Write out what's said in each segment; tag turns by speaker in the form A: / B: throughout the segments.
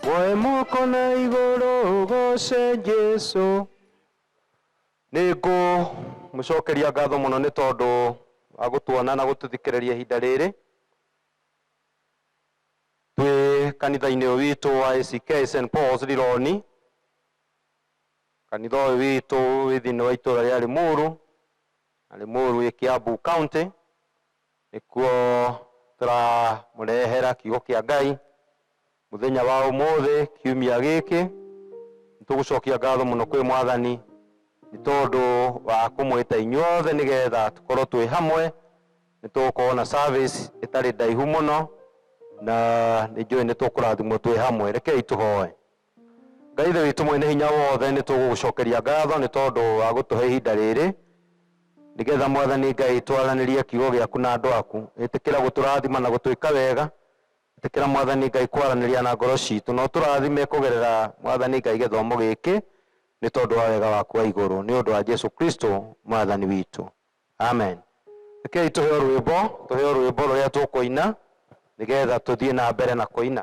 A: Woe moko na igũrũ ũgooce Jesu. Nĩ ngũmũcokeria ngatho mũno nĩ tondũ wa gũtuona na gũtũthikĩrĩria ihinda rĩrĩ twĩ kanitha-inĩ ũyũ witũ wa ACK St Paul's Lironi. Kanitha ũyũ witũ wĩ thĩinĩ wa itũũra rĩa Limuru, na Limuru ĩ Kiambu County. Nĩkuo tũramũrehera kiugo kĩa Ngai Mũthenya wa ũmũthĩ, kiumia gĩkĩ, nĩ tũgũcokia ngatho mũno kwĩ Mwathani nĩ tondũ wa kũmwĩta inyuothe nĩ getha tũkorwo twĩ hamwe. Nĩ tũgũkorwo na service ĩtarĩ ndaihu mũno, na nĩ njũĩ nĩ tũkũrathimwo twĩ hamwe. Rekei tũhoe. Ngai Ithe witũ Mwene Hinya Wothe, nĩ tũgũgũcokeria ngatho nĩ tondũ wa gũtũhe ihinda rĩrĩ, nĩ getha Mwathani Ngai twaranĩrie kiugo gĩaku na andũ aku. Ĩtĩkĩra gũtũrathima na gũtwĩka wega, Ĩtĩkĩra Mwathani Ngai kwaranĩria na ngoro ciitũ. Na ũtũrathime kũgerera Mwathani Ngai gĩthomo gĩkĩ, nĩ tondũ wa wega waku wa igũrũ, nĩ ũndũ wa Jesu Kristo Mwathani witũ. Amen. Rekei tũheo rwĩmbo, tũheo rwĩmbo rũrĩa tũkũina nĩgetha tũthiĩ na mbere na kũina.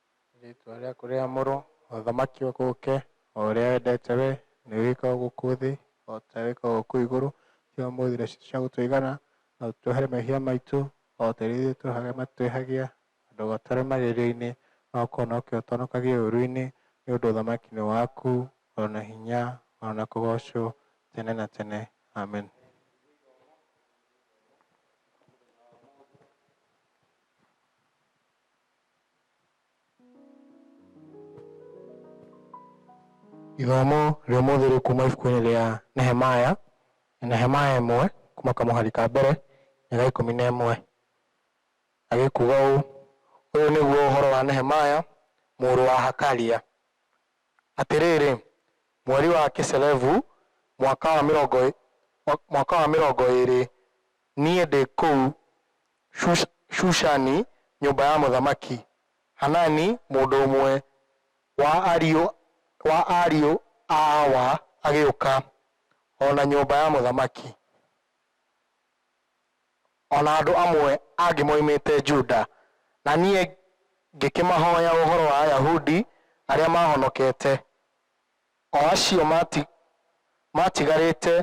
B: Rĩĩtwa rĩaku rĩamũrwo, ũthamaki waku ũũke, o ũrĩa wendete wee, nĩguo wĩkagwo gũkũ thĩ, o ta ũrĩa wĩkagwo kũu igũrũ. He ũmũthĩ irio citũ cia gũtũigana, na ũtũhe mehia maitũ, o ta ũrĩa ithuĩ twĩhagĩra arĩa matwĩhagia, na ndũgatware magerio-inĩ, no ũkĩhonokie ũtũhonokagie ũũru-inĩ, nĩ ũndũ ũthamaki nĩ waku, o na hinya, o na kũgoocwo, tene na tene. Amen. Ithomo rĩa ũmũthĩ rĩ kuma ibuku-inĩ rĩa Nehemaya, Nehemaya ĩmwe kuma kamũhari ka mbere nginya ga ikũmi na ĩmwe. Na gĩkuga ũũ, ũyũ nĩguo ũhoro wa Nehemaya mũrũ wa Hakalia. Atĩrĩrĩ, mweri wa Kiselevu, mwaka wa mĩrongo mwaka wa mĩrongo ĩĩrĩ, niĩ ndĩ kũu Shushani, nyũmba ya mũthamaki. Hanani, mũndũ ũmwe wa ariũ wa ariũ a Awa, agĩũka, o na nyũmba ya mũthamaki, o na andũ amwe angĩ moimĩte Juda, na niĩ ngĩkĩmahoya ũhoro wa Ayahudi arĩa maahonokete, o acio maatigarĩte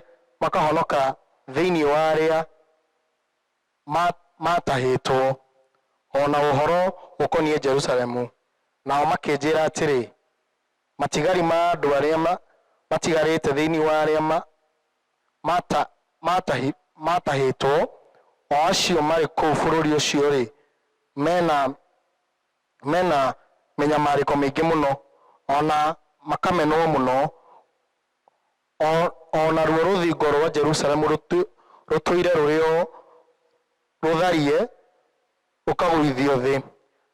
B: makahonoka thĩinĩ wa arĩa ma maatahĩtwo, o na ũhoro ũkoniĩ Jerusalemu, nao makĩnjĩra atĩrĩ, Matigari ma andũ arĩa ma matigarĩte thĩinĩ wa arĩa ma mata matahi maatahĩtwo, o acio marĩ kũu bũrũri ũcio-rĩ, me na me na mĩnyamarĩko mĩingĩ mũno, o na makamenwo mũno, O, o naruo rũthingo rwa Jerusalemu rũtu, rũtũire rũrĩ o rũtharie rũkagũithio thĩ,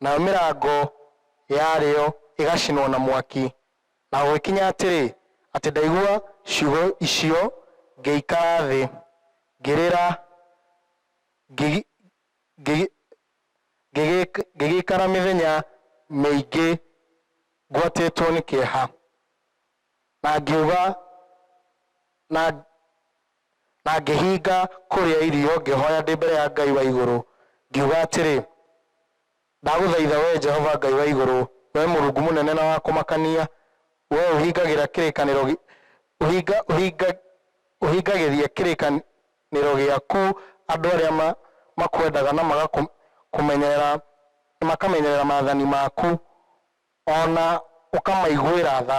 B: nayo mĩrango yarĩo ĩgacinwo na mwaki. Na gũgĩkinya atĩrĩ, atĩ ndaigua ciugo icio, ngĩikara thĩ, ngĩrĩra, ngĩgi, ngĩgi, ngĩgĩ, ngĩgĩikara mĩthenya mĩingĩ ngwatĩtwo nĩ kĩeha. na ngiuga na na ngĩhinga kũrĩa irio ngĩhoya ndĩ mbere ya Ngai wa igũrũ ngiuga atĩrĩ, Ndagũthaitha wee Jehova Ngai wa igũrũ, wee Mũrungu mũnene na wa kũmakania, wee ũhingagĩra kĩrĩkanĩro gĩ- ũhinga, ũhinga, ũhingagĩria kĩrĩkanĩro gĩaku andũ arĩa ma, makwendaga na magakũmenyerera makamenyerera maathani maku O na ũkamaiguĩra tha.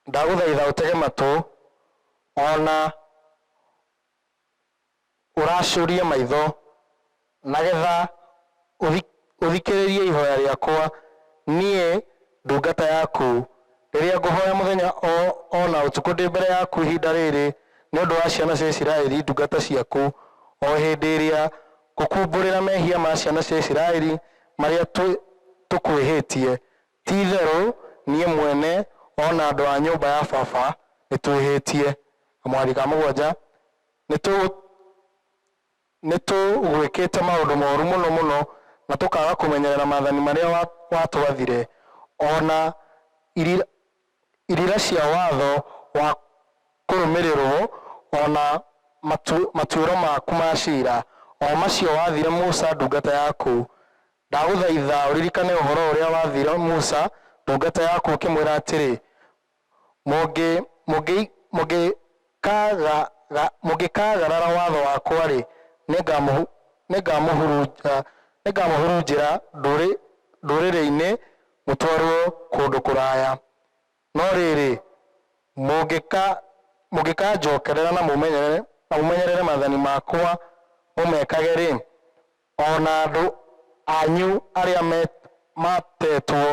B: Ndagũthaitha ũtege matũ, o na ũracũrie maitho, nagetha ũthikĩrĩrie ihoya rĩakwa niĩ ndungata yaku, rĩrĩa ngũhoya mũthenya o na ũtukũ ndĩ mbere yaku ihinda rĩrĩ nĩ ũndũ wa ciana cia Isiraeli ndungata ciaku, o hĩndĩ ĩrĩa Gũkumbũrĩra mehia ma ciana cia Isiraeli marĩa tũkwĩhĩtie, ti-itherũ niĩ mwene o na andũ a nyũmba ya baba nĩtwĩhĩtie. Na mwathi ka mũgwanja, nĩtũ nĩtũgwĩkĩte maũndũ moru mũno mũno na tũkaaga kũmenyerera maathani marĩa watwathire, o na iri irĩra cia watho wa kũrũmĩrĩrwo, o na matuĩro maku ma ciira, o macio wathire Musa ndungata yaku. Ndagũthaitha ũririkane ũhoro ũrĩa wathire Musa ndungata yaku ũkĩmwĩra atĩrĩ, Mũngĩiga Ka, ga, ga, mũngĩkaagarara watho wakwa-rĩ, nĩngamũhu, nĩngamũhurunja, nĩngamũhurunjĩra ndũrĩ, ndũrĩrĩ-inĩ mũtwarwo kũndũ kũraya. No rĩrĩ, mũngĩka, mũngĩkanjookerera na mũmenyerere, na mũmenyerere maathani makwa mũmekage-rĩ, o na andũ anyu arĩa me, matetwo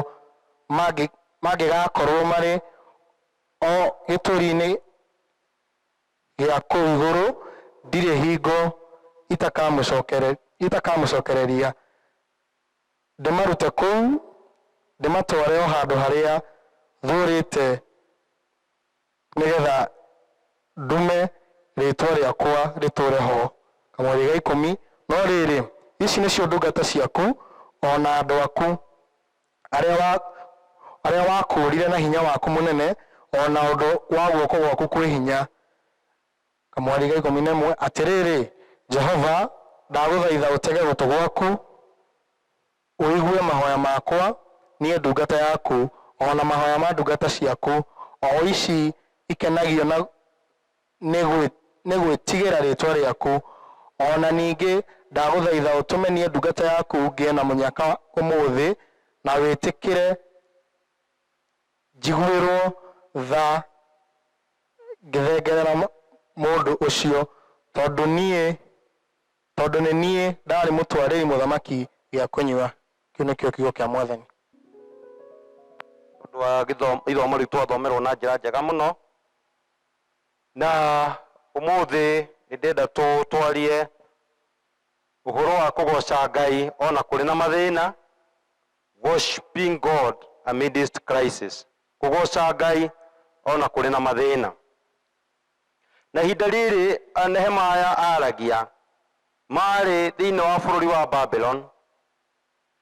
B: mangĩ, mangĩgaakorwo marĩ O gĩturi-inĩ gĩa kũu igũrũ ndirĩ hingo itakamũcokereria, ndĩmarute kũu, ndĩmatware o handũ harĩa thuurĩte nĩgetha ndume rĩĩtwa rĩakwa rĩtũũre ho. Kamweri ga ikũmi No rĩrĩ, ici nĩcio ndungata ciaku, o na andũ aku, arĩa wakũũrire na hinya waku mũnene, o na ũndũ wa guoko gwaku kwĩ hinya. Kamweri ga ikũmi na ĩmwe Atĩrĩrĩ, Jehova, ndagũthaitha ũtege gũtũ gwaku, ũigue mahoya makwa niĩ ndungata yaku, o na mahoya ma ndungata ciaku, o ici ikenagio na. nĩ gwĩ, nĩ gwĩtigĩra rĩĩtwa rĩaku. O na ningĩ ndagũthaitha ũtũme niĩ ndungata yaku ngĩe na mũnyaka ũmũthĩ, na wĩtĩkĩre njiguĩrwo tha ngĩthengerera mũ, mũndũ ũcio, tondũ niĩ, tondũ nĩ niĩ ndaarĩ mũtwarĩri mũthamaki gĩa kũnyua. Kĩu nĩkĩo kiugo kĩa Mwathani. Nĩ
A: ũndũ wa gĩthomo, ithomo rĩu twathomerwo na njĩra njega mũno. Na ũmũthĩ nĩndĩrenda twarie ũhoro wa kũgoca Ngai ona kũrĩ na mathĩna, worshiping God amidst crisis, kũgoca Ngai ona kũrĩ na mathĩna. Na ihinda rĩrĩ Nehemaya aragia, marĩ thĩinĩ wa bũrũri wa Babylon,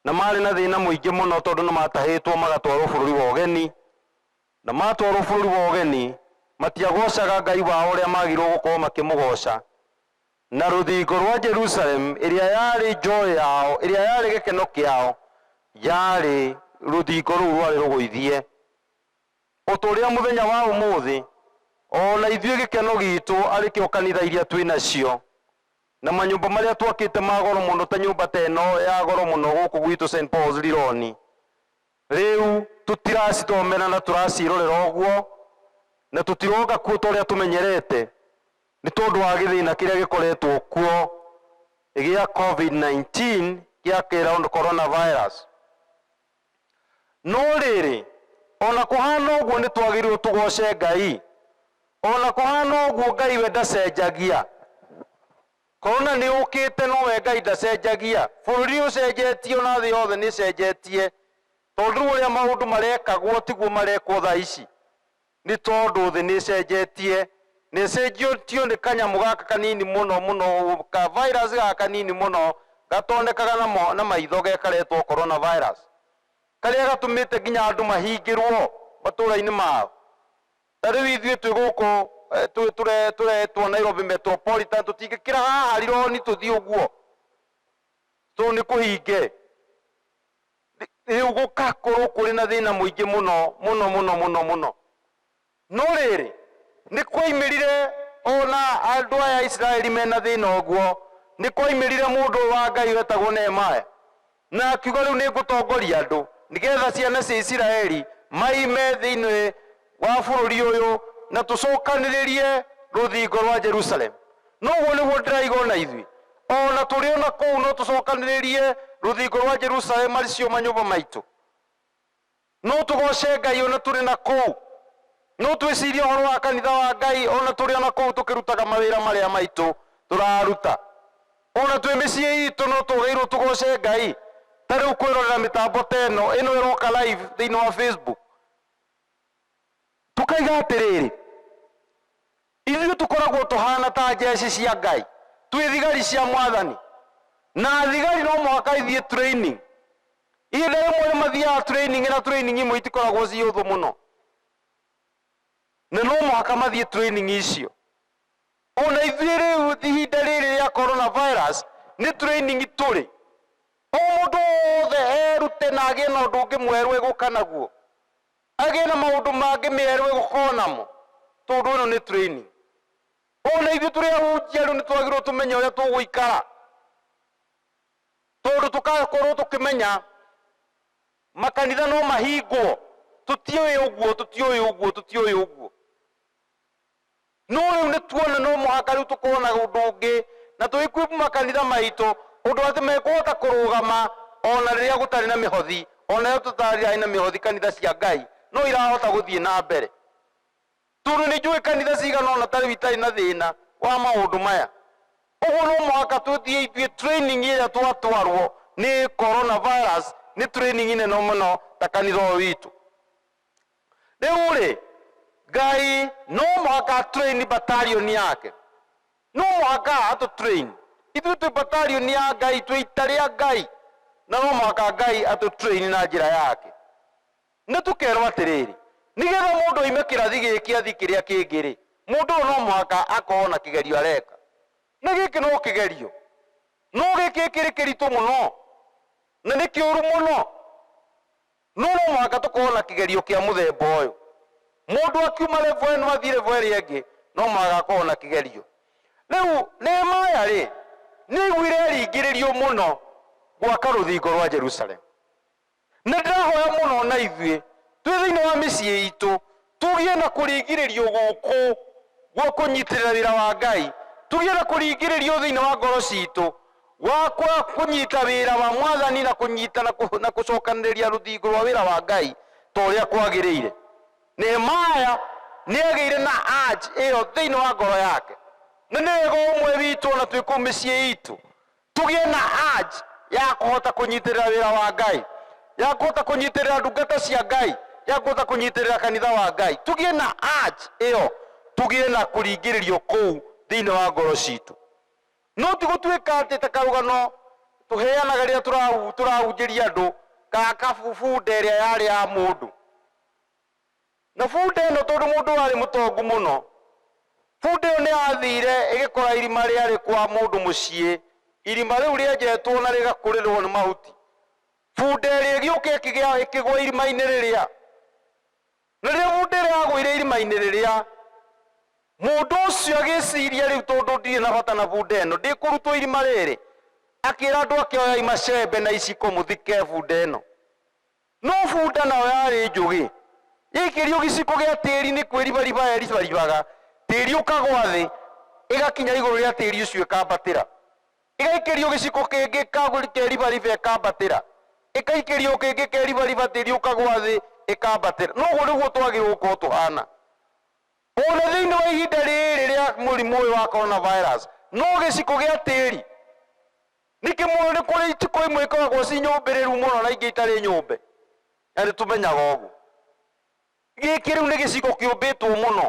A: na marĩ na thĩna mũingĩ mũno tondũ nĩmatahĩtwo magatwarwo bũrũri wa ũgeni, Na matwarwo bũrũri wa ũgeni, matiagoocaga Ngai wao ũrĩa maagĩrĩirwo gũkorwo makĩmũgooca. Na rũthingo rwa Jerusalemu, ĩrĩa yarĩ joy yao, ĩrĩa yarĩ gĩkeno kĩao, yarĩ rũthingo rũu rwarĩ rũgũithie. O ta ũrĩa mũthenya wa ũmũthĩ, o na ithuĩ gĩkeno giitũ arĩ kĩo kanitha iria twĩ nacio, na manyũmba marĩa twakĩte ma goro mũno ta nyũmba ta ĩno ya goro mũno gũkũ gwitũ St. Paul's Lironi, Rĩu tũtiracithomera na tũraciĩrorera ũguo, na tũtiroka kuo ta ũrĩa tũmenyerete nĩ tondũ wa gĩthĩna kĩrĩa gĩkoretwo kuo gĩa Covid-19 gĩa coronavirus. No rĩrĩ, o na kũhana ũguo nĩ twagĩrĩirũo tũgooce Ngai. O na kũhana ũguo, Ngai we ndacenjagia. Korona nĩ ũkĩte no we Ngai ndacenjagia. Bũrũri nĩ ũcenjetie ona thĩ yothe nĩ ĩcenjetie. Tondũ rĩu ũrĩa maũndũ marekagwo tiguo marekwo thaa ici. Nĩ tondũ thĩ nĩ ĩcenjetie. Na ĩcenjetio nĩ kanyamũ gaka kanini mũno mũno ũũ, ka virus gaka kanini mũno gatonekaga na maitho ge karetwo Corona virus. Karĩa gatũmĩte nginya andũ mahingĩrwo matũũra-inĩ mao. Ta rĩu ithuĩ twĩ gũkũ twĩ tũre tũretwo Nairobi Metropolitan tũtingĩkĩra haha Rironi tũthiĩ ũguo tondũ nĩ kũhinge. Rĩu gũgakorwo kũrĩ na thĩna mũingĩ mũno mũno mũno mũno mũno. No rĩrĩ, nĩ kwaimĩrire o na andũ aya a Isiraeli mena thĩna ũguo, nĩ kwaimĩrire mũndũ ũyũ wa Ngai wetagwo Nehemaya, Na akiuga, Rĩu nĩngũtongoria andũ, nĩgeetha ciana cia Isiraeli maime thĩinĩ wa bũrũri ũyũ, na tũcookanĩrĩrie rũthingo rwa Jerusalemu. Na ũguo nĩguo ndĩraiga o na ithuĩ. O na tũrĩ o na kũu no tũcookanĩrĩrie rũthingo rwa Jerusalemu, arĩ cio manyũmba maitũ. No tũgooce Ngai o na tũrĩ na kũu. No twĩcirie ũhoro wa kanitha wa Ngai o na tũrĩ o na kũu tũkĩrutaga mawĩra marĩa maitũ tũraruta. O na twĩ mĩciĩ itũ no twagĩrĩirũo tũgooce Ngai. Ta rĩu kwĩrorera mĩtambo ta ĩno, ĩno ĩroka live thĩinĩ wa Facebook, tũkaiga atĩrĩrĩ, Ithuĩ tũkoragwo tũhaana ta njeci cia Ngai, twĩ thigari cia Mwathani. Na thigari no mũhaka ithiĩ training. Ihinda rĩmwe nĩ mathiaga training na training imwe itikoragwo ci hũthũ mũno. Na no mũhaka mathiĩ training icio. O na ithuĩ rĩu ihinda rĩrĩ rĩa corona virus nĩ training tũrĩ. O mũndũ wothe erute na agĩe na ũndũ ũngĩ mwerũ egũka naguo. Agĩe na maũndũ mangĩ merũ egũkorwo namo, tondũ ĩno nĩ training. O na ithuĩ tũrĩ ahunjia rĩu nĩ twagĩrĩirwo tũmenye ũrĩa tũgũikara, tondũ tũgakorwo tũkĩmenya makanitha no mahingwo, tũtiũĩ ũguo, tũtiũĩ ũguo, tũtiũĩ ũguo. No rĩu nĩ tuona no mũhaka rĩu tũkorũo na ũndũ ũngĩ na tũ equip makanitha maitũ ũndũ atĩ mekũhota kũrũgama o na rĩrĩa gũtarĩ na mĩhothi. O nayo tũtarĩ na mĩhothi kanitha cia Ngai no irahota gũthiĩ na mbere. Tondũ nĩ njũĩ kanitha cigana ũna ta rĩu itarĩ na thĩna wa maũndũ maya. Ũguo no mũhaka tũthiĩ ithuĩ training ĩrĩa twatwarũo nĩ Coronavirus nĩ training nene mũno ta kanitha ũyũ witũ. Rĩu-rĩ, Ngai no mũhaka aturaini batarioni yake. No mũhaka atũturaini. Ithuĩ twĩ batarioni ya Ngai, twĩ ita rĩa Ngai, na no mũhaka Ngai atũturaini na njĩra yake. Nĩ tũkerwo atĩrĩrĩ, nĩgetha mũndũ oime kĩrathi gĩkĩ athiĩ kĩrĩa kĩngĩ-rĩ, mũndũ ũyũ no mũhaka akorwo na kĩgerio areka. Na gĩkĩ no kĩgerio, no gĩkĩ kĩrĩ kĩritũ mũno, na nĩ kĩũru mũno. No no mũhaka tũkorũo na kĩgerio kĩa mũthemba ũyũ. Mũndũ akiuma level ĩno athiĩ level ĩrĩa ĩngĩ, no mũhaka akorũo na kĩgerio. Rĩu Nehemia-rĩ, nĩ aaiguire aringĩrĩrio mũno gwaka rũthingo rwa Jerusalemu. Na ndĩrahoya mũno o na ithuĩ twĩ thĩinĩ wa mĩciĩ itũ Tũgĩe na kũringĩrĩrio gũkũ gwa kũnyitĩrĩra wĩra wa Ngai. Tũgĩe na kũringĩrĩrio thĩinĩ wa ngoro citũ gwa kwa kũnyita wĩra wa Mwathani na kũnyita na kũ- na kũcokanĩrĩria rũthingo rwa wĩra wa Ngai ta ũrĩa kwagĩrĩire. Nehemaya nĩ agĩire na urge ĩyo thĩinĩ wa ngoro yake. Nĩ nĩ wega ũmwe witũ o na twĩ kũu mĩciĩ itũ Tũgĩe na urge ya kũhota kũnyitĩrĩra wĩra wa Ngai, ya kũhota kũnyitĩrĩra ndungata cia Ngai, ya kũhota kũnyitĩrĩra kanitha wa Ngai. Tũgĩe na urge ĩyo, tũgĩe na kũringĩrĩrio kũu thĩinĩ wa ngoro citũ. No ti gũtuĩka atĩ ta karũgano tũheanaga rĩrĩa tũrahu- tũrahunjĩria andũ, kana kabunde ĩrĩa yarĩ ya mũndũ. Na bunda ĩno tondũ mũndũ warĩ mũtongu mũno, bunda ĩyo nĩ yathiire ĩgĩkora irima rĩarĩ kwa mũndũ mũciĩ, irima rĩu rĩenjetwo na rĩgakũrĩrwo nĩ mahuti. Bunda ĩrĩa ĩgĩũka ĩkĩgĩa ĩkĩgwa irima-inĩ rĩrĩa. Na rĩrĩa bunda ĩrĩa yagũire irima-inĩ rĩrĩa, mũndũ ũcio agĩciria rĩu tondũ ndirĩ na bata na bunda ĩno, ndĩkũrutwo irima rĩrĩ, akĩra andũ ake oyai macembe na iciko mũthike bunda ĩno. No bunda nayo yarĩ njũgĩ. Yaikĩrio gĩciko gĩa tĩri nĩ kwĩribariba yeribaribaga, tĩri ũkagwa thĩ, ĩgakinya igũrũ rĩa tĩri ũcio ĩkambatĩra. Ĩgaikĩrio gĩciko kĩngĩ ĩkeribariba ĩkambatĩra. Ĩgaikĩrio kĩngĩ ĩkeribariba tĩri ũkagwa thĩ ĩkambatĩra. Na ũguo nĩguo twagĩrĩirwo gũkorwo tũhana. O na thĩinĩ wa ihinda rĩrĩ rĩa mũrimũ ũyũ wa Corona Virus, no gĩciko gĩa tĩri. Nĩ kĩmũũĩ nĩ kũrĩ itiko imwe ikoragwo ci nyũmbĩrĩru mũno na ingĩ itarĩ nyũmbe, na nĩ tũmenyaga ũguo. Gĩkĩ rĩu nĩ gĩcigo kĩũmbĩtwo mũno,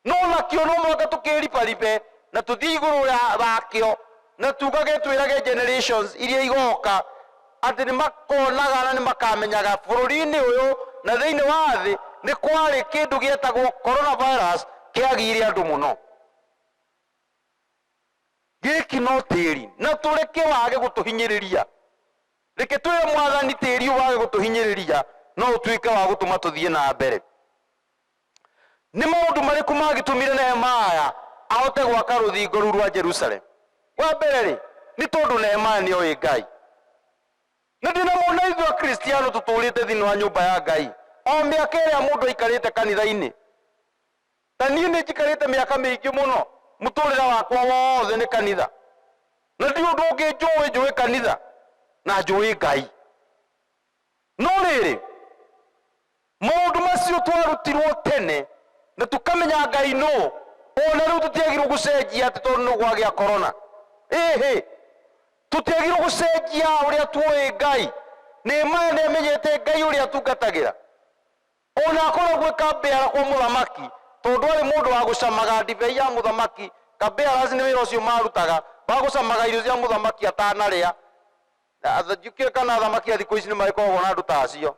A: no nakĩo no mũhaka tũkĩribaribe na tũthiĩ igũrũ rĩa wakĩo na tugage twĩrage generations iria igoka atĩ nĩ makonaga na nĩ makamenyaga bũrũri-inĩ ũyũ na thĩinĩ wa thĩ nĩ kwarĩ kĩndũ gĩetagwo Coronavirus kĩagiire andũ mũno. Gĩkĩ no tĩri na tũreke wage gũtũhinyĩrĩria. Reke twĩre Mwathani tĩri ũyũ wage gũtũhinyĩrĩria no ũtuĩke wa gũtũma tũthiĩ na mbere. Nĩ maũndũ marĩkũ mangĩtũmire Nehemaya ahote gwaka rũthingo rũu rwa Jerusalemu? Wa mbere-rĩ, nĩ tondũ Nehemaya nĩ oĩ Ngai. Na ndĩnamona ithuĩ Akristiano tũtũũrĩte thĩinĩ wa nyũmba ya Ngai o mĩaka ĩrĩa mũndũ aikarĩte kanitha-inĩ. Ta niĩ nĩ njikarĩte mĩaka mĩingĩ mũno, mũtũrĩre wakwa wothe nĩ kanitha. Na ndirĩ ũndũ ũngĩ njũĩ, njũĩ kanitha na njũĩ Ngai. No rĩrĩ, maũndũ macio twarutirwo tene na tũkamenya Ngai nũ, o na rĩu tũtiagĩrĩirwo gũcenjia atĩ tondũ nĩ gwagĩa korona. Ĩhĩ! Tũtiagĩrĩirwo gũcenjia ũrĩa tuoĩ Ngai. Nehemaya nĩ amenyete Ngai ũrĩa atungatagĩra. O na akoragwo e kabeara kwa mũthamaki, tondũ arĩ mũndũ wa gũcamaga ndibei ya mũthamaki, kabearas nĩ wĩra ũcio maarutaga, wa gũcamaga irio cia mũthamaki atanarĩa. Njũkĩ kana athamaki a thikũ ici nĩ magĩkoragwo na andũ ta acio.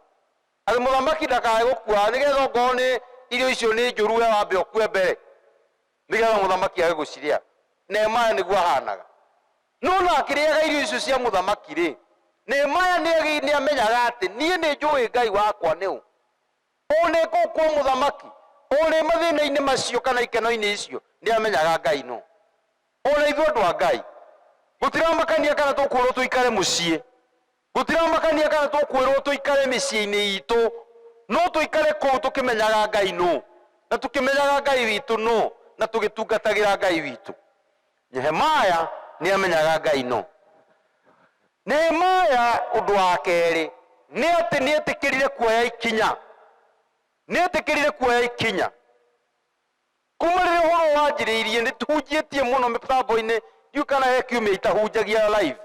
A: Atĩ mũthamaki ndakae gũkua, nĩgetha ongorwo nĩ irio icio nĩ njũru we wambe ũkue mbere. Nĩgeetha mũthamaki age gũcirĩa. Nehemaya nĩguo ahaanaga. No na akĩrĩaga irio icio cia mũthamaki-rĩ, Nehemaya nĩagĩ, nĩamenyaga atĩ, Niĩ nĩnjũũĩ Ngai wakwa nĩ ũ. O na ekũu kwa mũthamaki, o na e mathĩĩna-inĩ macio kana ikeno-inĩ icio, nĩamenyaga Ngai nũ. O na ithuĩ andũ a Ngai, gũtiramakania kana tũkũũrwo tũikare mũciĩ, Gũtiramakania kana tũkwĩrũo tũikare mĩciĩ-inĩ itũ, no tũikare kũu tũkĩmenyaga Ngai nũ, na tũkĩmenyaga Ngai witũ nũ, na tũgĩtungatagĩra Ngai witũ. Nehemaya nĩ aamenyaga Ngai nũ. Nehemaya ũndũ wa kerĩ nĩ atĩ nĩ eetĩkĩrire kuoya ikinya. Nĩ eetĩkĩrire kuoya ikinya. Kuuma rĩrĩa ũhoro ũyũ wanjĩrĩirie, nĩ tũhunjĩtie mũno mĩtambo-inĩ, ndiũĩ kana he kiumia itahunjagia live.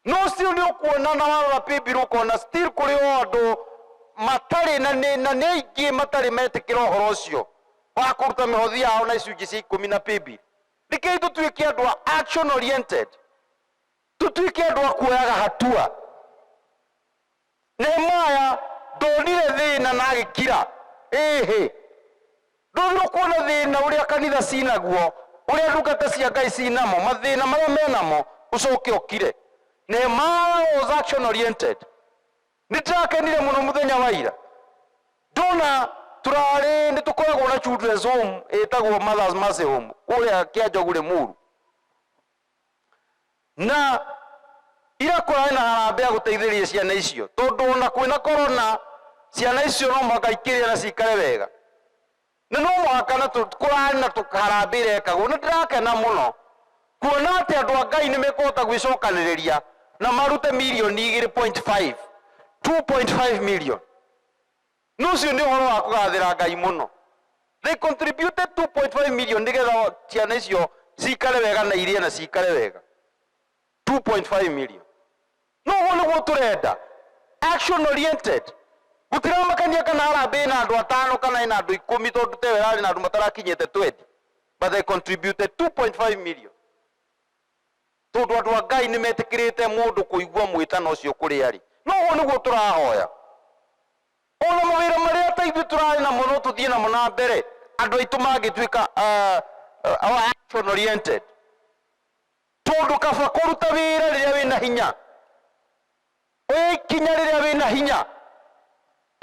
A: No ũcio nĩ ũkuona na warora Bibilia ũkona still kũrĩ o andũ matarĩ na nĩ na nĩ aingĩ matarĩ metĩkĩra ũhoro ũcio wa kũruta mĩhothi yao na icunjĩ cia ikũmi na Bibilia. Rekei tũtuĩke andũ a action oriented, tũtuĩke andũ a kuoyaga hatua. Nehemaya ndonire thĩna na agĩkira. Ĩĩhĩ, ndwagĩrĩirwo kuona thĩna ũrĩa kanitha ci naguo, ũrĩa ndungata cia Ngai ci namo, mathĩna marĩa me namo, ũcoke ũkire? Nehemaya was action oriented. Nĩ ndĩrakenire mũno mũthenya wa ira ndona tũrarĩ nĩ tũkoragwo na children's home ĩtagwo Mothers Mercy Home kũrĩa Kĩanjogu Rĩmuru. Na ira kũrarĩ na harambĩ ya gũteithĩrĩria ciana icio tondũ ona kwĩ na korona ciana icio no mũhaka ikĩrĩa na cikare wega. Na no mũhaka na tũ- kũrarĩ na tũ- harambĩ irekagwo. Nĩ ndĩrakena mũno kuona atĩ andũ a Ngai nĩ mekũhota gwĩcokanĩrĩria na marute mirioni igĩrĩ point five, 2.5 million. Na ũcio nĩ ũhoro wa kũgaathĩra Ngai mũno. They contributed 2.5 million nĩgetha ciana icio cikare wega na irĩe na cikare wega. 2.5 million. No ũguo nĩguo tũrenda. Action oriented. Gũtiramakania kana harambee ĩna andũ atano kana ĩna andũ ikũmi tondũ ta ĩyo ĩrarĩ na andũ matarakinyĩte 20. But they contributed 2.5 million. Tondũ andũ a Ngai nĩ metĩkĩrĩte mũndũ kũigua mwĩtano ũcio kũrĩ arĩ. Na ũguo nĩguo tũrahoya. O na mawĩra marĩa ta ithuĩ tũrarĩ namo no tũthiĩ namo na mbere, andũ aitũ mangĩtuĩka a, a, action oriented. Tondũ kaba kũruta wĩra rĩrĩa wĩ na hinya. Oya ikinya rĩrĩa wĩ na hinya.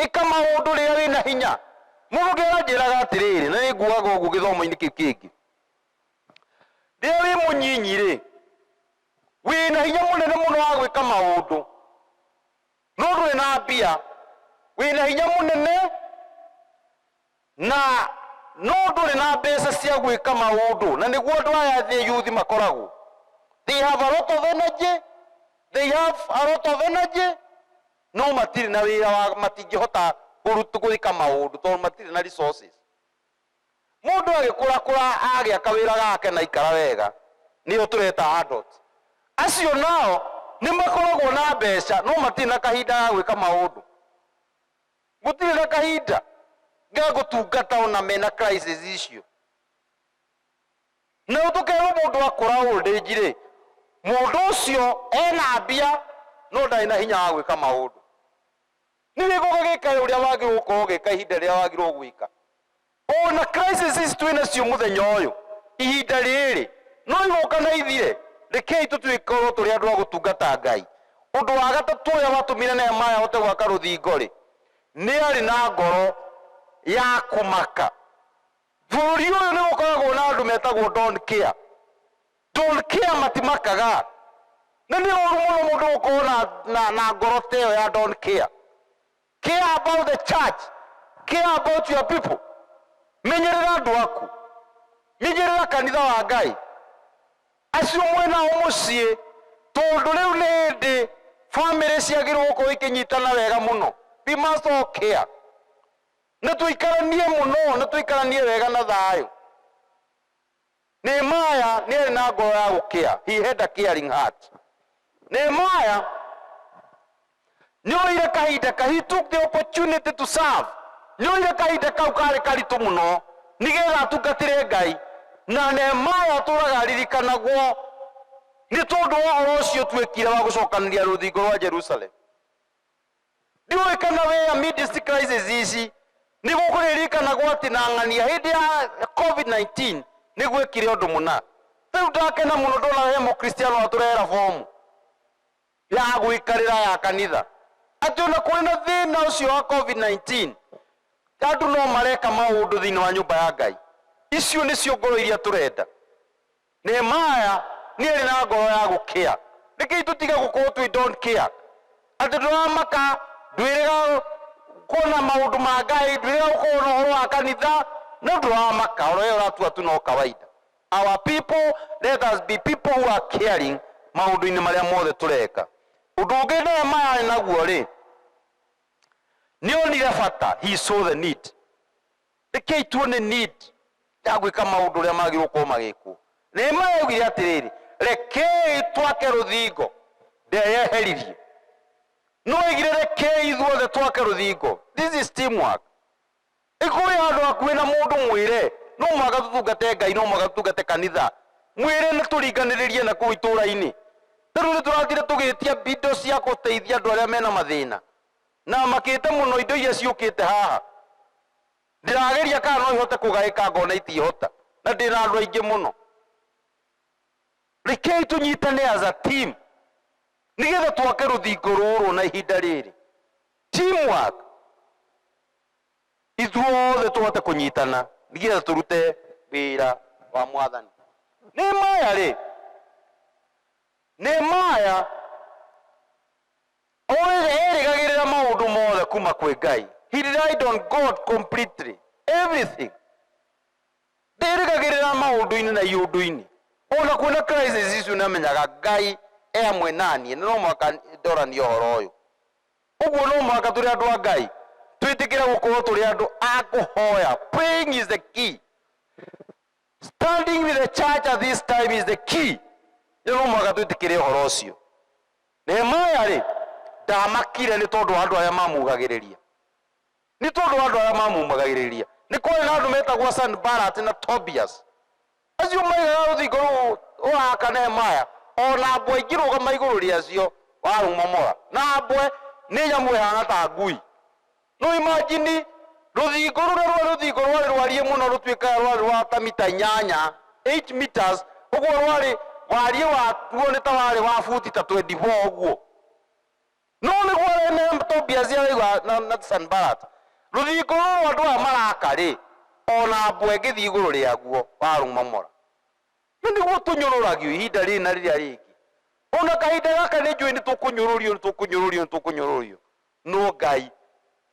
A: Ĩka maũndũ rĩrĩa wĩ na hinya. Mũndũ ũngĩ aranjĩraga atĩrĩrĩ, na nĩ nguaga ũguo gĩthomo-inĩ kĩu kĩngĩ, Rĩrĩa wĩ mũnyinyi-rĩ, wĩ na hinya mũnene mũno wa gwĩka maũndũ, no ndũrĩ na mbia. Wĩ na hinya mũnene na no ndũrĩ na mbeca cia gwĩka maũndũ, na nĩguo andũ aya thĩ yuthi makoragwo. They have a lot of energy, they have a lot of energy, no matirĩ na wĩra wa, matingĩhota kũrut, gwĩka maũndũ tondũ matirĩ na resources. Mũndũ agĩkũrakũra agĩa kawĩra gake na aikara wega nĩo tũreta adult. Acio nao nĩ makoragwo na mbeca no matirĩ na kahinda ga gwĩka maũndũ. Gũtirĩ na kahinda ga gũtungata o na mena crisis icio. Nao tũkerwo mũndũ akũra old age rĩ, mũndũ ũcio ena mbia no ndarĩ na hinya wa gwĩka maũndũ. Nĩ gĩko gagĩkae ũrĩa wagĩrĩirwo gũkorwo ũgĩka ihinda rĩrĩa wagĩrĩirwo gwĩka. O na crisis ici twĩ nacio mũthenya ũyũ, ihinda rĩrĩ, no igũka na ithire. Rekei tũtuĩkorwo tũrĩ andũ a gũtungata Ngai. Ũndũ wa gatatũ ũrĩa watũmire Nehemaya ahote gwaka rũthingo-rĩ, nĩ arĩ na ngoro ya kũmaka. Bũrũri ũyũ nĩ gũkoragwo na andũ metagwo don't care. Don't care matimakaga. Na nĩ ũru mũno mũndũ gũkorwo na, na, na ngoro ta ĩyo ya don't care. Care about the church. Care about your people. Menyerera andũ aku. Menyerera kanitha wa Ngai. Acio mwĩ nao mũciĩ tondũ rĩu nĩ hĩndĩ famĩlĩ ciagĩrĩirwo gũkorwo ikĩnyitana wega mũno. We must all care. Nĩ tũikaranie mũno, nĩ tũikaranie wega na thayũ. Nehemiah nĩ arĩ na ngoro ya gũkĩa. He had a caring heart. Nehemiah nĩ oire kahinda ka, he took the opportunity to serve. Nĩ oire kahinda kau karĩ karitũ mũno nĩgetha atungatĩre Ngai. Na Nehemiah atũraga aririkanagwo nĩ tondũ wa ũhoro ũcio ũtuĩkire wa gũcokanĩria rũthingo rwa Jerusalem. Ndiũĩ kana we amidst crisis ici nĩ gũkũririkana gwatinang'ania hĩndĩ ya COVID-19 nĩ gwekire ũndũ mũna. Rĩu ndakena mũno ndona he mũkristiano atũrehera bomu ya gwĩkarĩra ya kanitha atĩ ona kũrĩ na thĩna ũcio wa COVID-19 andũ no mareka maũndũ thĩinĩ wa nyũmba ya Ngai. Icio nĩcio ngoro iria tũrenda. Nehemiah nĩ arĩ na ngoro ya gũkĩa. Rekei tũtige gũkorwo twĩ don't care. Atĩ tũramaka, ndwĩrĩga kuona maũndũ ma Ngai, ndwĩrĩga gũkorwo na ũhoro wa kanitha, no tũramaka. Oro ĩyo ũratua tu no kawaida. Our people, let us be people who are caring maũndũ-inĩ marĩa mothe tũreka. Ũndũ ũngĩ Nehemiah arĩ naguo rĩ, nĩ onire bata, he saw the need. Rekei tuone need ya gwĩka maũndũ ũrĩa magĩrĩirwo gũkorwo magĩkwo. Nehemia augire atĩrĩrĩ, rekei twake rũthingo ndeyeheririe. No augire rekei ithuothe twake rũthingo. This is teamwork. Ĩkorwo wĩ handũ hakuhĩ na mũndũ mwĩre no mũhaka tũtungate Ngai, no mũhaka tũtungate kanitha. Mwĩre na tũringanĩrĩrie na kũu itũũra-inĩ. Ta rĩu nĩ tũrathiire tũgĩtia indo cia gũteithia andũ arĩa mena mathĩna. Na makĩte mũno indo iria ciũkĩte haha. Ndĩrageria kana no ihote kũgaĩka ngona itingĩhota. Na ndĩ na andũ aingĩ mũno. Rekei tũnyitane as a team nĩgetha twake rũthingo rũrũ na ihinda rĩrĩ. Team work. Ithuothe tũhote kũnyitana nĩgetha tũrute wĩra wa Mwathani. Nehemiah rĩ, Nehemiah O rĩrĩ, erĩgagĩrĩra maũndũ mothe kuma kwĩ Ngai. He relied on God completely. Everything. Ndĩrĩgagĩrĩra maũndũ-inĩ na iũndũ-inĩ. O na kwĩna crisis icio nĩ amenyaga Ngai e hamwe naniĩ na no mũhaka ndoranie ũhoro ũyũ. Ũguo no mũhaka tũrĩ andũ a Ngai twĩtĩkĩre gũkorwo tũrĩ andũ a kũhoya. Praying is the key. Standing with the church at this time is the key. Nĩ no mũhaka twĩtĩkĩre ũhoro ũcio. Nehemia-rĩ, ndaamakire nĩ tondũ wa andũ arĩa maamũugagĩrĩria, nĩ tondũ wa andũ arĩa maamũmagagĩrĩria. Nĩ kwarĩ na andũ meetagwo Sanibalati na Tobiasi. Acio maaigaga rũthingo rũu rũraaka Nehemia, o na mbwe ingĩrũgama igũrũ rĩacio, warũmomora. Na mbwe nĩ nyamũ ĩhaana ta ngui. Rĩu imagine rũthingo rũrĩa rwarĩ rũthingo rwarĩ rwariĩ mũno rũtuĩkaga rwarĩ rwa ta mita inyanya 8 meters ũguo rwarĩ wariĩ waguo nĩ ta warĩ wa buti ta 24 ũguo no nĩguo remember Tobias araigua na, na Sanbalat rũthingo rũrũ andũ aya maraka rĩ ona mbwe ĩngĩthiĩ igũrũ rĩaguo warũmomora na nĩguo tũnyũrũragio ihinda rĩrĩ na rĩrĩa rĩngĩ ona kahinda gaka nĩ njũĩ nĩ tũkũnyũrũrio nĩ tũkũnyũrũrio nĩ tũkũnyũrũrio Nũ Ngai?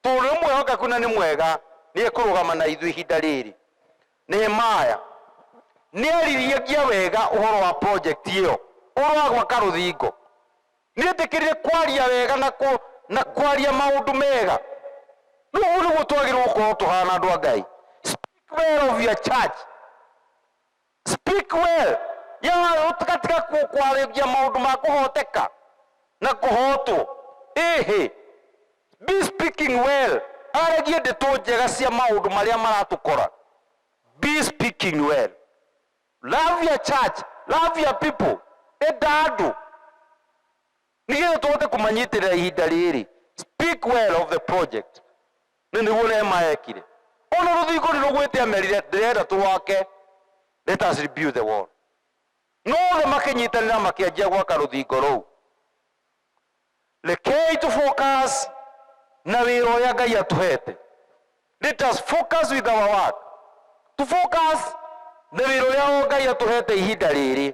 A: Tũrĩ mwĩhokeku na nĩ mwega, nĩ ekũrũgama na ithuĩ ihinda rĩrĩ. Nehemiah nĩ aaririagia wega ũhoro wa project ĩyo, ũhoro wa gwaka rũthingo. Nĩ eetĩkĩrire kwaria wega na, na kwaria maũndũ mega. Nĩ ũguo nĩguo twagĩrĩirũo gũkorũo tũhaana andũ a Ngai. Speak well of your church. Speak well ya ũtigatige kwarĩria maũndũ ma kũhoteka na kũhotwo. Ĩhĩ. Be speaking well aragie ndeto njega cia maũndũ marĩa maratũkora. Be speaking well. Love your church, love your people enda andũ. Nĩgetha tũhote kũmanyitĩrĩra ihinda rĩrĩ, speak well of the project. Nĩ nĩguo Neema ekire. Ona rũthingo nĩ rũgwĩte amerire ndĩrenda tũrwake, let us rebuild the wall. No othe makĩnyitanĩra makĩanjia gwaka rũthingo rũu. Rekei tũ focus na wĩra ũrĩa Ngai atũhete. Let us focus with our work. Tũ focus na wĩra ũrĩa o Ngai atũhete ihinda rĩrĩ.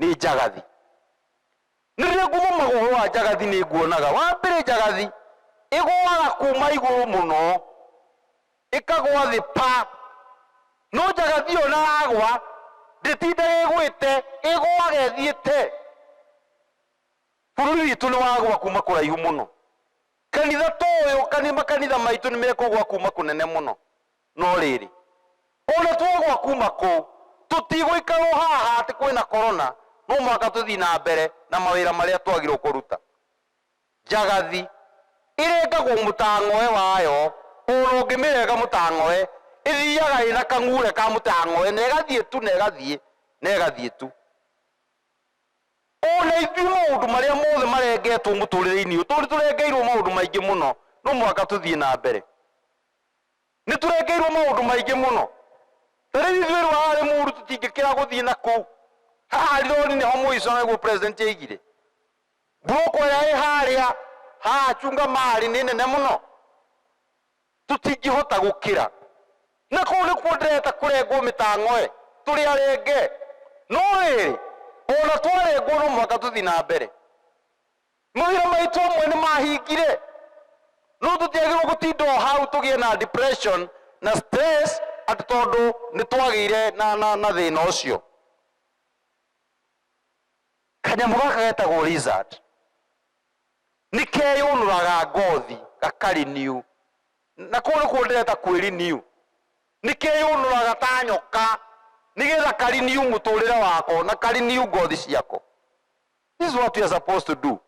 A: nĩ njagathi. Nĩ rĩrĩa ngũthoma ũhoro wa njagathi nĩ nguonaga, wa mbere njagathi ĩgũaga kuma igũrũ mũno ĩkagũa thĩ pa. No njagathi ĩyo ona yagũa ndĩtindaga ĩgũĩte, ĩgũaga ĩthiĩte. Bũrũri witũ nĩ wagũa kuma kũraihu mũno. Kanitha ta ũyũ, makanitha maitũ nĩ mekũgũa kuma kũnene mũno. No rĩrĩ, o na twagũa kuuma kũu, tũtigũikara o haha atĩ kwĩ na korona, no mũhaka tũthiĩ na mbere na mawĩra marĩa twagĩrĩirũo kũruta. Njagathi ĩrengagwo mũtang'oe wayo, o na ũngĩmĩrenga mũtang'oe, ĩthiaga ĩ na kang'uure ka mũtang'oe na ĩgathiĩ tu na ĩgathiĩ na ĩgathiĩ tu. O na ithuĩ maũndũ marĩa mothe marengetwo mũtũrĩre-inĩ ũyũ, tondũ nĩ tũrengeirũo maũndũ maingĩ mũno, no mũhaka tũthiĩ na mbere. Nĩ tũrekeirũo maũndũ maingĩ mũno. Ta rĩu ithuĩ erũ haha arĩ mũũru tũtingĩkĩra gũthiĩ na kũu. Haha rori nĩho mũico, nĩguo President oigire. Buroko ĩrĩa ĩ harĩa ha acunga marĩ nĩ nene mũno. Tũtingĩhota gũkĩra. Na kũu nĩkuo ndĩreta kũrengwo mĩtang'oe, tũrĩ arenge. No rĩrĩ, o na twarengwo no mũhaka tũthiĩ na mbere. Mawĩra maitũ amwe nĩ mahingire. No tũtiagĩrĩirũo gũtinda o hau tũgĩe na depression na stress atĩ tondũ nĩ twagĩire na, na, na thĩna ũcio. Kanyamũ gaka getagwo lizard nĩ keyũnũraga ngothi gaka-renew, na kũu nĩkuo ndĩreta kwĩ-renew. Nĩ keyũnũraga ta nyoka nĩgetha ka-renew mũtũrĩre wako na ka-renew ngothi ciako. This is what we are supposed to do.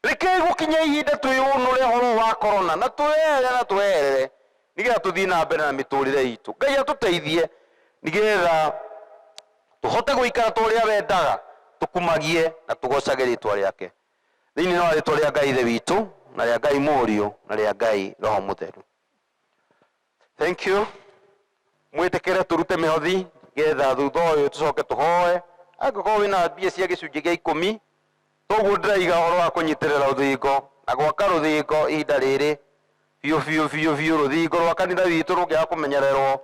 A: Rekei gũkinya ihinda twĩyũnũre ũhoro wa korona na twĩyehere na twĩyehere nĩgetha tũthiĩ na mbere na mĩtũrĩre itũ. Ngai atũteithie nĩgetha tũhote gũikara ta ũrĩa wendaga tũkumagie na tũgocage rĩtwa rĩake thĩinĩ wa rĩtwa rĩa Ngai Ithe witũ na rĩa Ngai Mũriũ na rĩa Ngai Roho Mũtheru. Thank you. Mwĩtĩkĩre tũrute mĩhothi getha thutha ũyũ tũcoke tũhoe. Angĩkorwo wĩna mbia cia gĩcunjĩ gĩa ikũmi, toguo ndĩraiga ũhoro wa kũnyitĩrĩra rũthingo na gwaka rũthingo ihinda rĩrĩ biũ biũ biũ biũ. Rũthingo rwa kanitha witũ rũngĩaga kũmenyererwo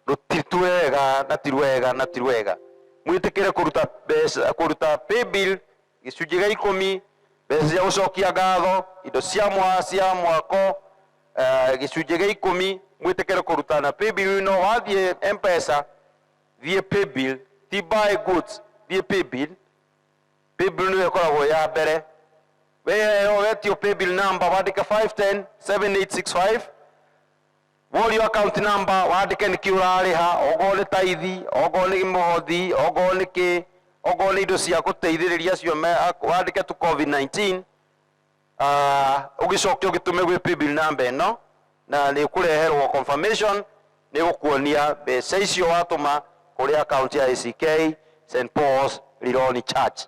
A: rũti- ti rwega na ti rwega na ti rwega. Mwĩtĩkĩre kũruta mbeca kũruta paybill Gĩcunjĩ gĩa ikũmi, mbeca cia gũcokia ngatho, indo cia mwa, cia mwako, eh, gĩcunjĩ gĩa ikũmi, mwĩtĩkĩre kũrutana paybill ĩno, wathiĩ M-Pesa, thiĩ paybill, ti buy goods, thiĩ paybill, paybill nĩyo ĩkoragwo ya mbere, weheo wetio paybill number wandĩke 510785 Worio account number, wandĩke nĩkĩ ũrarĩha, ongorwo nĩ tithe, ongorwo nĩ mũhothi, ongorwo nĩ kĩ, ongorwo nĩ indo cia gũteithĩrĩria acio me, wandĩke tu covid 19 Ah, ũgĩcoke ũgĩtume gwĩ paybill namba ĩno na nĩ kũreherwo confirmation nĩ gũkuonia mbeca icio watũma kũrĩ account ya ACK St Paul's Lironi Church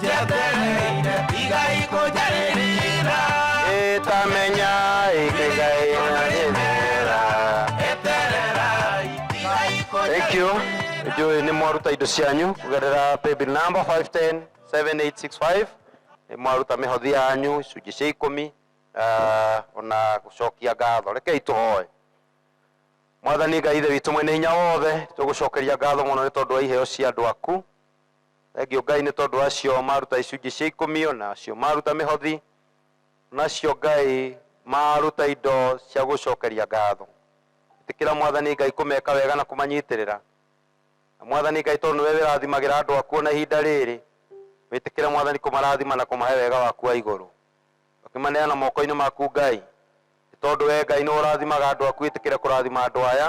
A: njetereire iga ikonjarĩrĩra ĩtamenya ĩkĩgaĩra rĩthera eterera iga thank you ikonjarĩrĩra njũĩ nĩ mwaruta indo cianyu kũgerera paybill number 510 7865 nĩ mwaruta mĩhothi yanyu icunjĩ cia ikũmi ah, ona gũcokia ngatho rekei tũhoe mwathani ngai ithe witũ mwene hinya wothe tũgũcokeria ngatho mũno nĩ tondũ wa iheo cia andũ aku Thengio Ngai nĩ tondũ acio maruta icunjĩ cia ikũmi, o na acio maruta mĩhothi, o na acio Ngai maruta indo cia gũcokeria ngatho. Ĩtĩkĩra Mwathani Ngai kũmeka wega na kũmanyitĩrĩra. Na Mwathani Ngai tondũ nĩwe wĩrathimagĩra andũ aku o na ihinda rĩrĩ, wĩtĩkĩre Mwathani kũmarathima na kũmahe wega waku wa igũrũ. Tũkĩmaneana moko-inĩ maku Ngai, nĩ tondũ wee Ngai nĩwe ũrathimaga andũ aku ĩtĩkĩre kũrathima andũ aya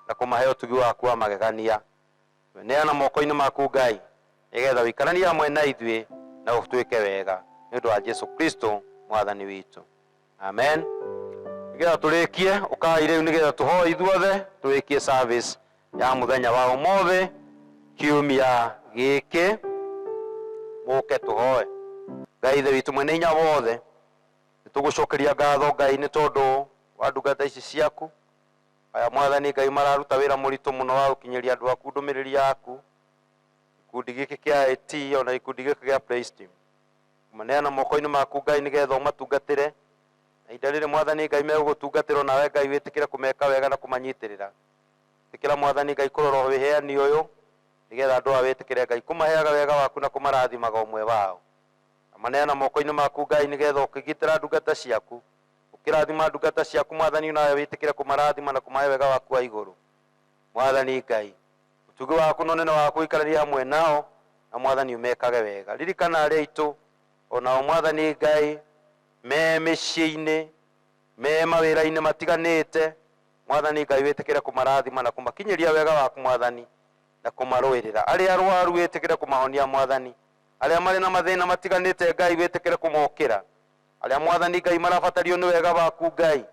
A: na kũmahe ũtugi waku wa magegania. Twĩneana moko-inĩ maku Ngai, nĩgetha ũikaranie hamwe na ithuĩ na ũtwĩke wega, nĩ ũndũ wa Jesu Kristo Mwathani witũ. Amen. Nĩgetha tũrĩkie, ũkai rĩu nĩgetha tũhoe ithuothe, tũrĩkie service ya mũthenya wa ũmũthĩ, kiumia gĩkĩ. Mũke tũhoe. Ngai Ithe witũ mwene hinya wothe, nĩtũgũcokeria ngatho Ngai nĩ tondũ wa ndungata ici ciaku. Aya Mwathani Ngai mararuta wĩra mũritũ mũno wa gũkinyĩria andũ aku ndũmĩrĩri yaku. Gĩkundi gĩkĩ kĩa IT ona gĩkundi gĩkĩ gĩa Praise Team. Maneana moko-inĩ maku Ngai nĩgetha ũmatungatĩre. Na ihinda rĩrĩ Mwathani Ngai megũgũtungatĩra onawe Ngai wĩtĩkĩre kũmeka wega na kũmanyitĩrĩra. Ĩtĩkĩra Mwathani Ngai kũrora ũheani ũyũ nĩgetha andũ aya wĩtĩkĩre Ngai kũmaheaga wega waku na kũmarathimaga ũmwe wao. Na maneana moko-inĩ maku Ngai nĩgetha ũkĩgitĩra ndungata ciaku Ũkĩrathima ndungata ciaku, Mwathani, nawe wĩtĩkĩre kũmarathima na kũmahe wega waku wa igũrũ. Mwathani Ngai, ũtugi waku na ũnene waku ũikaranie hamwe nao, na Mwathani ũmekage wega. Ririkana arĩa aitũ, o nao, Mwathani Ngai, me mĩciĩ-inĩ, me mawĩra-inĩ matiganĩte, Mwathani Ngai, wĩtĩkĩre kũmarathima na kũmakinyĩria wega waku, Mwathani, na kũmarũĩrĩra. Arĩa arwaru wĩtĩkĩre kũmahonia, Mwathani. Arĩa marĩ na mathĩna matiganĩte, Ngai, wĩtĩkĩre kũmokĩra. Arĩa Mwathani Ngai marabatario nĩ wega waku Ngai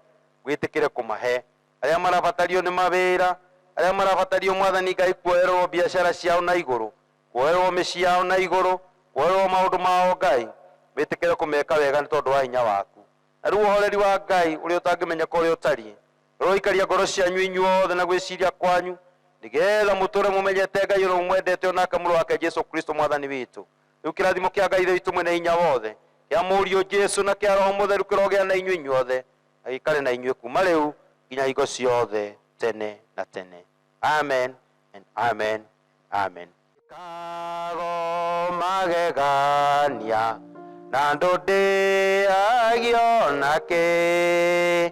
A: wĩtĩkĩre kũmahe. Arĩa marabatario nĩ mawĩra. Arĩa marabatario Mwathani Ngai kuoererwo biacara ciao na igũrũ, kuoererwo mĩciĩ yao na igũrũ, kuoererwo maũndũ mao Ngai wĩtĩkĩre kũmeka wega nĩ tondũ wa hinya waku. Na rĩu ũhoreri wa Ngai ũrĩa ũtangĩmenyeka ũrĩa ũtariĩ ũroikaria ngoro cianyu inyuothe na gwĩciria kwanyu nĩgetha mũtũre mũmenyete Ngai ũrĩa mũmwendete o nake Mũrũ wake Jesu Kristo Mwathani witũ. Rĩu kĩrathimo kĩa Ngai Ithe witũ mwene hinya wothe, kĩa Mũriũ Jesu na kĩa Roho Mũtheru kĩrogĩa na inyuĩ inyuothe, na gĩikare na inyuĩ kuma rĩu nginya hingo ciothe tene na tene. Amen and amen and amen. Kago magegania na ndũndĩagio na kĩ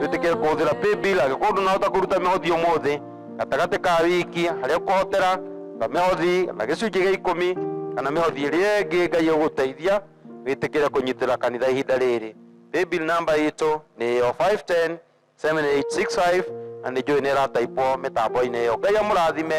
A: twĩtĩkĩre kũhũthĩra paybill angĩkorwo ndũnahota kũruta mĩhothi ũmũthĩ gatagatĩ ka wiki harĩa ũkũhotera ta mĩhothi kana gĩcunjĩ gĩa ikũmi kana mĩhothi ĩrĩa ĩngĩ ngai ĩgũteithia wĩtĩkĩre kũnyitĩra kanitha ihinda rĩrĩ paybill namba itũ nĩ yo 510 7865 na nĩ njũĩ nĩ ĩrataipwo mĩtambo-inĩ ĩyo ngai amũrathime